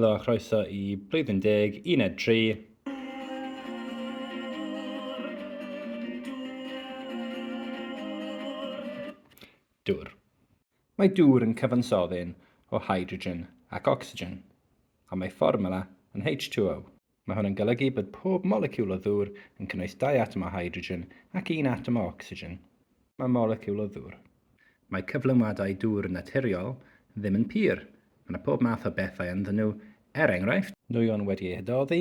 Helo a chroeso i Blwyddyn Deg, Uned 3. Dŵr. Mae dŵr yn cyfansoddyn o hydrogen ac ocsigen, a mae fformwla yn H2O. Mae hwn yn golygu bod pob moleciwl o ddŵr yn cynnwys dau atom o hydrogen ac un atom o ocsigen. Mae moleciwl o ddŵr. Mae cyflenwadau dŵr naturiol ddim yn pur, mae yna pob math o bethau ynddyn nhw, er enghraifft, nwyon wedi eu hadoddi,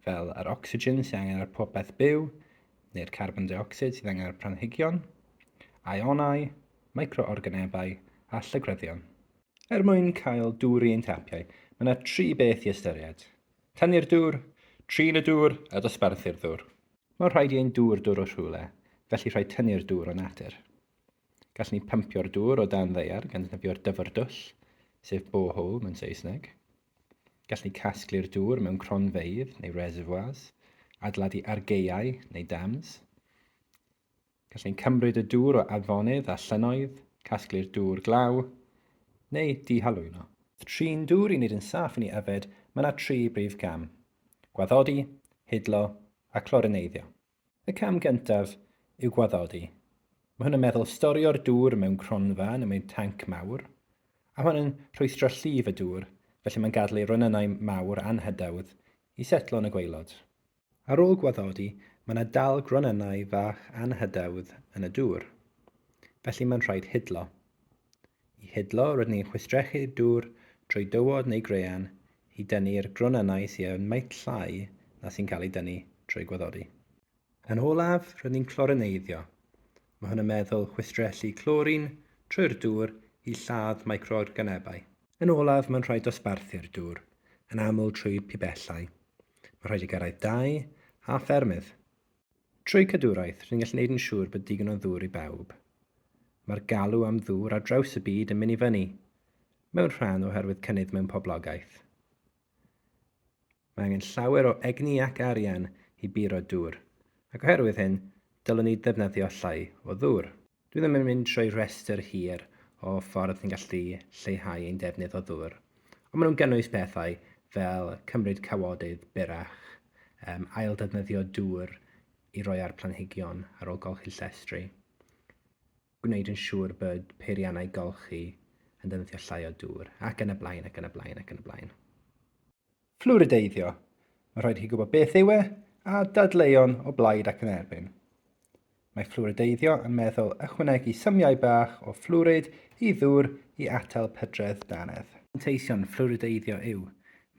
fel yr ocsigen sydd angen ar popeth byw, neu'r carbon deuocsid sydd angen ar planhigion, aionau, micro-organebau a llygryddion. Er mwyn cael dŵr i ein tapiau, mae yna tri beth i ystyried. Tynnu'r dŵr, trin y dŵr a dosbarthu'r ddŵr. Mae'n rhaid i ein dŵr dod o rhywle, felly rhaid tynnu'r dŵr o natur. Gallwn ni pympio'r dŵr o dan ddaear gan ddefnyddio'r dyfrdwll, sef borehole mewn Saesneg. Gallwn ni casglu'r dŵr mewn cronfeydd neu reservoirs, adeiladu argaeau neu dams. Gallai'n cymryd y dŵr o afonydd a llynnoedd, casglu'r dŵr glaw, neu dihalwyno. Trin dŵr i wneud yn saff yn ei yfed, mae yna tri brif gam, gwaddodi, hidlo a chlorineiddio. Y cam gyntaf yw gwaddodi. Mae hwn yn meddwl storio'r dŵr mewn cronfa neu mewn tanc mawr, a hwn yn rhwystro llif y dŵr, felly mae'n gadael ei ronynnau mawr anhydawdd i setlo yn y gwaelod. Ar ôl gwaddodi, mae yna dal gronynnau fach anghydawdd yn y dŵr, felly mae'n rhaid hidlo. I hidlo, rydyn ni'n chwistrellu'r dŵr trwy dywod neu graean i dynnu'r gronynnau sydd â'r maint llai na sy'n cael ei dynnu trwy gwaddodi. Yn olaf, rydyn ni'n clorineiddio, Mae hwn yn meddwl chwistrellu clorin trwy'r dŵr i lladd microorganebau. Yn olaf, mae'n rhaid dosbarthu'r dŵr, yn aml trwy pibellau. Mae'n rhaid i gyrraedd dau a ffermydd. Trwy cadwraeth, rydyn ni'n gallu gwneud yn siŵr bod digon o ddŵr i bawb. Mae'r galw am ddŵr ar draws y byd yn mynd i fyny, mewn rhan oherwydd cynnydd mewn poblogaeth. Mae angen llawer o egni ac arian i buro dŵr, ac oherwydd hyn, dylwn ni ddefnyddio llai o ddŵr. Dwi ddim yn mynd trwy rhestr hir o ffordd ni'n gallu lleihau ein defnydd o ddŵr, ond maen nhw'n gynnwys pethau fel cymryd cawodydd byrrach, um, ailddefnyddio dŵr i roi ar planhigion ar ôl golchi llestri. gwneud yn siŵr bod peiriannau golchi yn defnyddio llai o dŵr, ac yn y blaen, ac yn y blaen, ac yn y blaen. Fflwrideiddio. Mae rhaid i chi gwybod beth yw e a dadleuon o blaid ac yn erbyn. Mae fflwrideiddio yn meddwl ychwanegu symiau bach o fflwrid i ddŵr i atal pydredd dannedd. Manteision fflwrideiddio yw,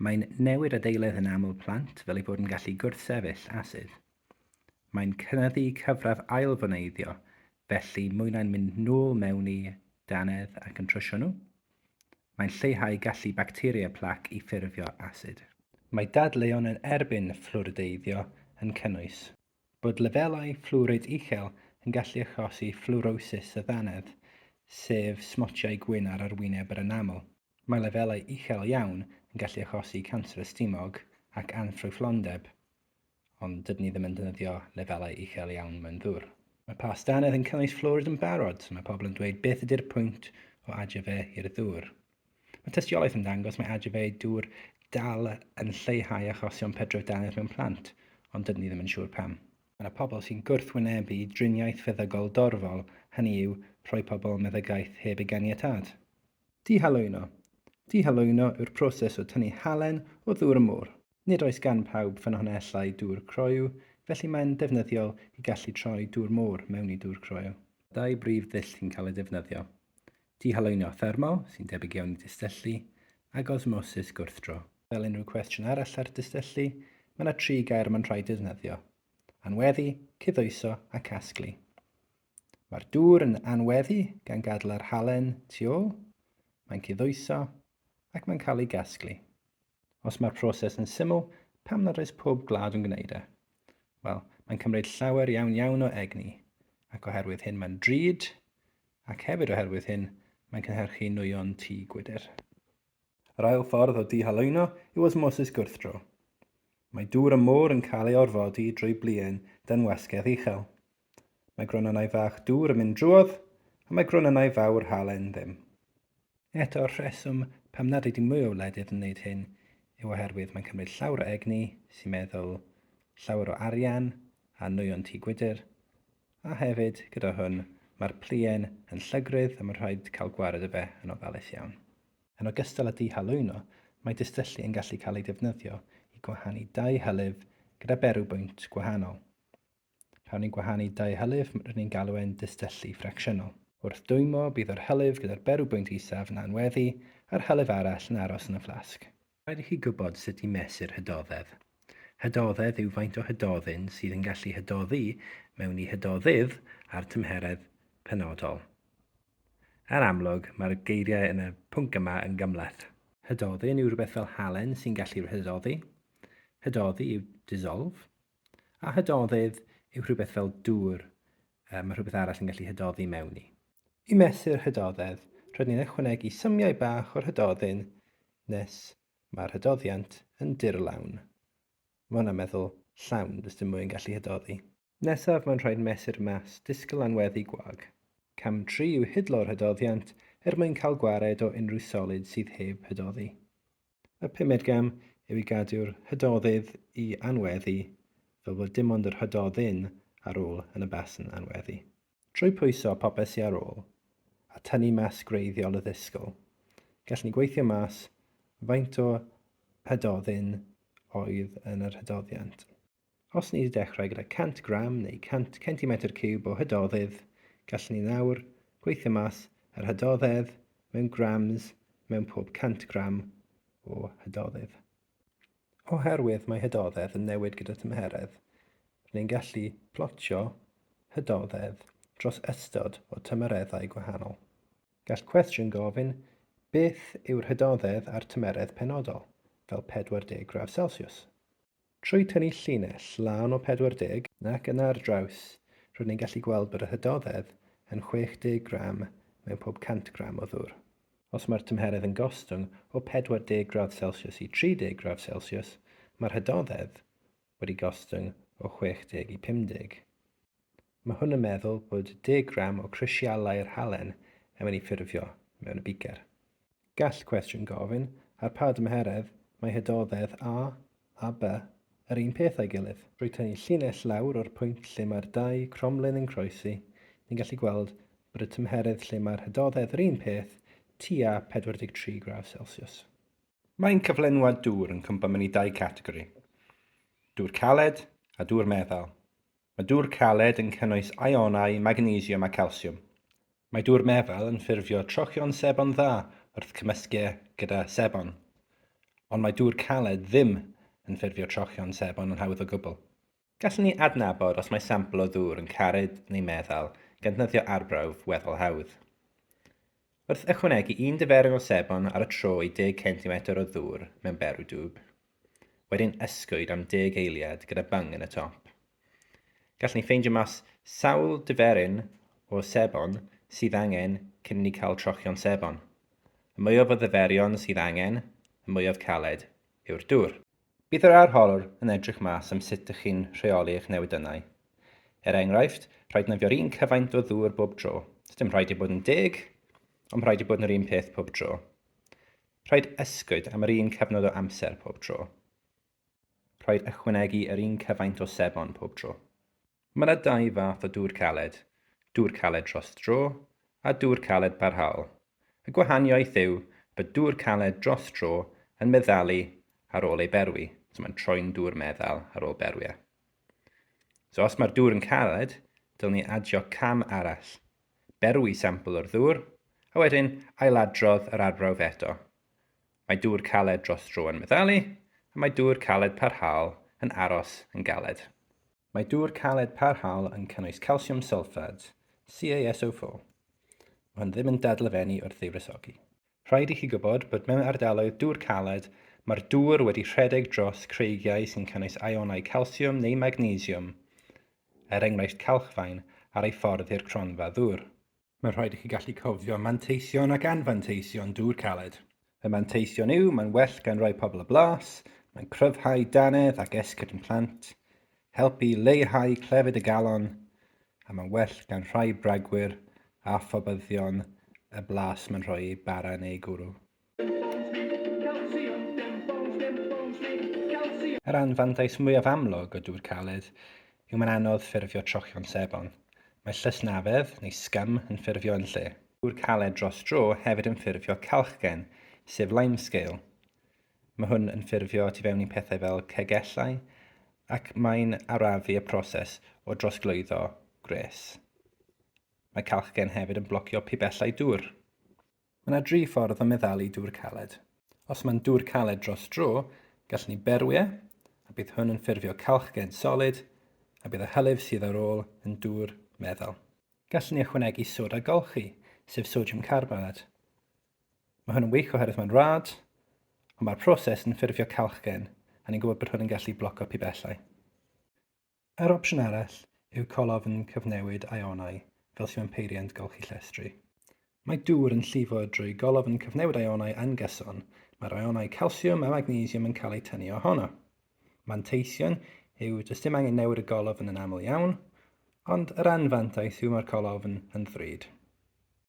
mae'n newid adeiledd yn aml plant fel eu bod yn gallu gwrthsefyll asid. Mae'n cynyddu cyfradd ailfoneiddio, felly mwy na'n mynd nôl mewn i dannedd ac yn trwsio nhw. Mae'n lleihau gallu bacteria plac i ffurfio asid. Mae dadleuon yn erbyn fflwrideiddio yn cynnwys. Bod lefelau fflwrid uchel yn gallu achosi fflwrosis y ddannedd, sef smotiau gwyn ar arwyneb yr enamel. Mae lefelau uchel iawn yn gallu achosi canser y stumog ac anffrwythlondeb. ond dydyn ni ddim yn defnyddio lefelau uchel iawn mewn ddŵr. Mae past dannedd yn cynnwys fflwrid yn barod, so mae pobl yn dweud beth ydy'r pwynt o adio fe i'r ddŵr. Mae tystiolaeth yn dangos mae adio fe i dŵr dal yn lleihau achosion pedref dannedd mewn plant, ond dydyn ni ddim yn siŵr pam. Mae yna pobl sy'n gwrthwynebu driniaeth feddygol dorfol, hynny yw, rhoi pobl meddygaeth heb ei ganiatâd. Dihalwyno Dihalwyno yw'r proses o tynnu halen o ddŵr y môr. Nid oes gan bawb ffynhonnellau dŵr croyw, felly mae'n ddefnyddiol i gallu troi dŵr môr mewn i dŵr croyw. Dau brif ddull sy'n cael eu defnyddio, dihalwyno thermol, sy'n debyg iawn i dystyllu, ac osmosis gwrthdro. Fel unrhyw cwestiwn arall ar dystyllu, mae yna tri gair y mae'n rhaid eu defnyddio, anweddu, cydhwyso a casglu. Mae'r dŵr yn anweddu gan gadl yr halen tu ôl, mae'n cyddoeso ac mae'n cael ei gasglu. Os mae'r proses yn syml, pam nad oes pob gwlad yn gwneud e? Wel, mae'n cymryd llawer iawn iawn o egni, ac oherwydd hyn mae'n drud, ac hefyd oherwydd hyn mae'n cynhyrchu nwyon tŷ gwydr. Yr ail ffordd o dihaluno yw osmosis gwrthdro. Mae dŵr y môr yn cael ei orfodi drwy bluen dan wasgedd uchel. Mae gronynnau fach dŵr yn mynd drwodd, ond mae gronynnau fawr halen ddim. Eto'r rheswm pam nad ydy mwy o wledydd yn wneud hyn yw oherwydd mae'n cymryd llawer o egni, sy'n meddwl, llawer o arian a nwyon tŷ gwydr, a hefyd, gyda hwn, mae'r pluen yn llygrydd a mae'n rhaid cael gwared o fe yn ofalus iawn. Yn ogystal â dihalwyno, mae distyllu yn gallu cael ei defnyddio i gwahanu dau hylif gyda berw bwynt gwahanol. Rhawn ni gwahanu dau hylif, rydyn ni'n galw e'n dystyllu ffracsiynol. Wrth dwymo, bydd yr hylif gyda'r berw bwynt isaf yn anweddu a'r hylif arall yn aros yn y fflasg. Rhaid i chi gwybod sut i mesur hydoddedd. Hydoddedd yw faint o hydoddyn sydd yn gallu hydoddi mewn i hydoddydd a'r tymheredd penodol. Yn amlwg, mae'r geiriau yn y pwnc yma yn gymhleth. Hydoddyn yw rhywbeth fel halen sy'n gallu rhydoddi. Hydoddi yw dissolve. A hydoddedd yw rhywbeth fel dŵr, mae rhywbeth arall yn gallu hydoddi mewn i. I mesur hydoddedd, rydyn ni'n ychwanegu symiau bach o'r hydoddyn nes mae'r hydoddiant yn dirlawn. Mae hwnna'n meddwl llawn, does dim mwy yn gallu hydoddi. Nesaf mae'n rhaid mesur mas disgl anweddu gwag. Cam 3 yw hidlo'r hydoddiant er mwyn cael gwared o unrhyw solid sydd heb hydoddi. Y pumed gam yw i gadw'r Hydoddydd i anweddu fel bod dim ond yr Hydoddyn ar ôl yn y basn anweddu. Trwy pwyso popeth sy ar ôl, a tynnu mas gwreiddiol y ddisgl, gallwn ni gweithio mas faint o Hydoddyn oedd yn yr Hydoddiant. Os ni'n dechrau gyda 100 gram neu 100 centimetr ciwb o hydoddydd, gallwn ni nawr gweithio mas yr hydoddedd mewn grams mewn pob 100 gram o hydoddydd. Oherwydd mae hydoddedd yn newid gyda thymheredd, rydyn ni'n gallu plotio hydoddedd dros ystod o tymereddau gwahanol. Gall cwestiwn gofyn beth yw'r hydoddedd ar tymeredd penodol, fel 40 gradd Celsiws. Trwy tynnu llinell lân o 40 nac yna ar draws, rydyn ni'n gallu gweld bod yr hydoddedd yn 60 gram mewn pob 100 gram o ddŵr. Os mae'r tymheredd yn gostwng o 40 gradd Celsius i 30 gradd Celsius, mae'r hydoddedd wedi gostwng o 60 i 50. Mae hwn yn meddwl bod deg gram o crisialau'r halen yn mynd i ffurfio mewn y bicer. Gall cwestiwn gofyn, ar pa dymheredd mae hydoddedd A a B yr un peth â'i gilydd? Drwy tynnu llinell lawr o'r pwynt lle mae'r dau cromlin yn croesi, ni'n gallu gweld bod y tymheredd lle mae'r hydoddedd yr un peth tua 43 gradd Celsius. Mae'n cyflenwad dŵr yn cwmpo mewn i dau categori, dŵr caled a dŵr meddal. Mae dŵr caled yn cynnwys ionau magnesiwm a calsiwm. Mae dŵr meddal yn ffurfio trochion sebon dda wrth cymysgu e gyda sebon, ond mae dŵr caled ddim yn ffurfio trochion sebon yn hawdd o gwbl. Gallwn ni adnabod os mae sampl o ddŵr yn caled neu meddal gan ddefnyddio arbrawf weddol hawdd. Wrth ychwanegu un diferyn o sebon ar y tro i 10 centimetr o ddŵr mewn berw dwb, wedyn ysgwyd am deg eiliad gyda bung yn y top. Gallwn ni ffeindio mas sawl diferyn o sebon sydd angen cyn i ni cael trochion sebon. Y mwyaf o ddyferion sydd angen, y mwyaf caled yw'r dŵr. Bydd yr arholwr yn edrych mas am sut dych chi'n rheoli eich newyddynnau. Er enghraifft, rhaid nofio'r un cyfaint o ddŵr bob tro. Does dim rhaid ei bod yn deg, ond rhaid ei bod yn yr un peth pob tro. Rhaid ysgwyd am yr un cyfnod o amser pob tro. Rhaid ychwanegu yr un cyfaint o sebon pob tro. Mae yna dau fath o dŵr caled, dŵr caled dros dro a dŵr caled barhaol. Y gwahaniaeth yw bod dŵr caled dros dro yn meddalu ar ôl ei berwi, so mae'n troi'n dŵr meddal ar ôl berwi e. So os mae'r dŵr yn caled, dylwn ni adio cam arall Berwi sampl o'r ddŵr, a wedyn ailadrodd yr arbrawf eto. Mae dŵr caled dros dro yn meddalu, a mae dŵr caled parhaol yn aros yn galed. Mae dŵr caled parhaol yn cynnwys calsiwm sylffad, CaSO4. Mae hwn ddim yn dadlefennu wrth ddiwresogi. Rhaid i chi gwybod bod mewn ardaloedd dŵr caled, mae'r dŵr wedi rhedeg dros creigiau sy'n cynnwys ionau calsiwm neu magnesiwm, er enghraifft calchfaen, ar ei ffordd i'r cronfa ddŵr. Mae'n rhaid i chi gallu cofio manteision ac anfanteision dŵr caled. Y manteision yw, mae'n well gan rai pobl y blas, mae'n cryfhau dannedd ac esgyrn plant, helpu i leihau clefyd y galon a mae'n well gan rhai bragwyr a phobyddion y blas mae'n rhoi eu bara yn eu gwrw. Yr anfantais mwyaf amlwg o dŵr caled yw mae'n anodd ffurfio trochion sebon. Mae llysnafedd, neu scum, yn ffurfio yn lle. Dŵr caled dros dro hefyd yn ffurfio calchgen, sef limescale. Mae hwn yn ffurfio tu fewn i pethau fel cegellau ac mae'n arafu y proses o drosglwyddo gwres. Mae calchgen hefyd yn blocio pibellau dŵr. Mae yna dri ffordd o meddalu dŵr caled. Os mae'n dŵr caled dros dro, gallwn ni berwi e, a bydd hwn yn ffurfio calchgen solid, a bydd y hylif sydd ar ôl yn dŵr meddal. Gallwn ni ychwanegu soda golchi, sef sodiwm carbonad. Mae hwn yn wych oherwydd mae'n rad, ond mae'r proses yn ffurfio calchgen a ni'n gwybod bod hwn yn gallu bloco pibellau. Yr opsiwn arall yw colofn cyfnewid ionau fel sydd mewn peiriant golchi llestri. Mae dŵr yn llifo drwy golofn cyfnewid ionau yn gyson, mae'r ionau calsiwm a magnesiwm yn cael eu tynnu ohono. Manteision yw does dim angen newid y golofn yn aml iawn, ond yr anfantais yw mae'r colofn yn ddrud.